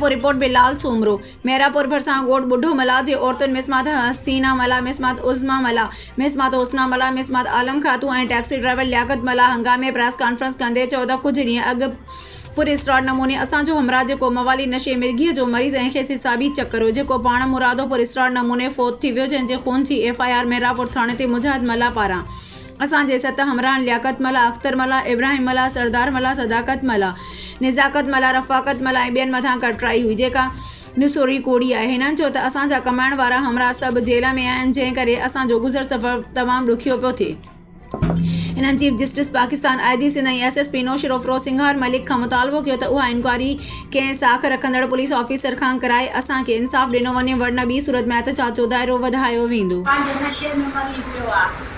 Mirpur, report, Bilal Soomro, Mirpur ڀرسان ڳوٺ ٻڍو ملاح جي عورتن مسمات حسينا ملاح، مسمات عظميٰ ملاح، مسمات حسنا ملاح، مسمات عالم خاتون ۽ ٽئڪسي ڊرائيور لياقت ملاح هنگامي پريس ڪانفرنس ڪندي چيو ته ڪجهه ڏينهن اڳ پر اسرار نموني اسان جو همراهه جيڪو موالي نشي مرگيء جو مريض ۽ کيس حسابي چڪر هو جيڪو پاڻ مرادو پر اسرار نموني فوت ٿي ويو جنهن جي خون جي ايف آء آر ميرپور ٿاڻي تي مجاهد ملاح پاران اسان جي ست همراهن لياقت ملاح، اختر ملاح، ابراهيم ملاح، سردار ملاح، صداقت ملاح، نزاڪت ملاح، رفاقت ملاح ۽ ٻين مٿان ڪٽرائي هئي، جيڪا نسوري ڪوڙي آهي. هنن چيو ته اسان جا ڪمائڻ وارا همراهه سڀ جيل ۾ آهن، جنهن ڪري اسان جو گذر سفر تمام ڏکيو پيو ٿئي. هنن chief justice Pakistan, I G Sindh ۽ S S P Naushahro Feroze Sanghar Malik کان مطالبو ڪيو ته اها انڪوائري ڪنهن ساک رکندڙ پوليس آفيسر کان ڪرائي اسان کي انصاف ڏنو وڃي ورنه ٻي صورت ۾ احتجاج جو دائرو وڌايو ويندو. پنهنجي نشي ۾ مري پيو آ.